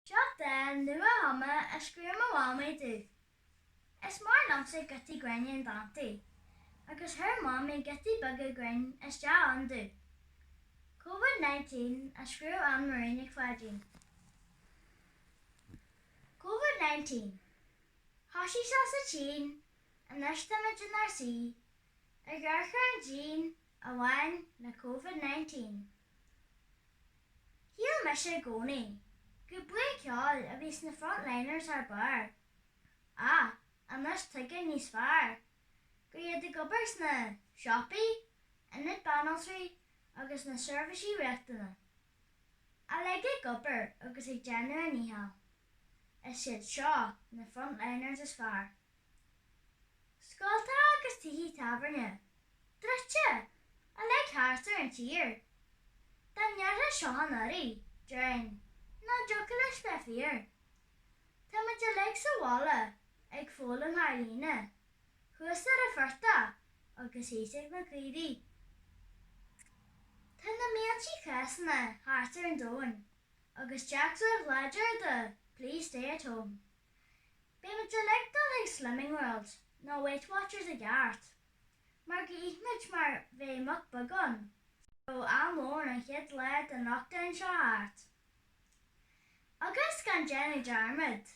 Seo dán nua agam a scríobh mo mhamaí domh. Is maith liomsa giotaí grinn in dántaí agus chuir Mamaí giotaí beaga grinn isteach ann domh. Covid 19 a scríobh Anne Marie Nic Pháidín. Covid 19. Thoisigh sé sa tSín, anois tá muid inár suí. I gcoraintín a bhaineann le Covid-19, shíl mise i gcónaí gur buíon ceoil a bhí sna frontliners thar barr, ach anois tuigim níos fearr gur iad atá ag obair sna siopaí, ionaid banaltraí agus sna seirbhísí riachtanacha. Uilig ag obair agus ag déanamh a ndícheall. Is iad seo na frontliners is fearr. Scoltacha agus tithe tábhairne druidte uilig thart ar an tír. Dá ndéarfá seo anuraidh, déarfainn nach dtiocfadh leis bheith fíor. Tá muid uilig sa bhaile ag foghlaim thar líne thuas ar an phortach agus thíos ag na caoirigh. Tá na míltí cásanna thart ar an domhan agus dearcadh láidir de Please Stay at Home. Beidh muid uilig ag dul chuig Slimming World nó Weight Watchers i gceart, mar go n-itheann muid mar bheadh muc beag ann, ó am lóin an chéad lá den lockdown seo thart. Agus gan déanamh dearmad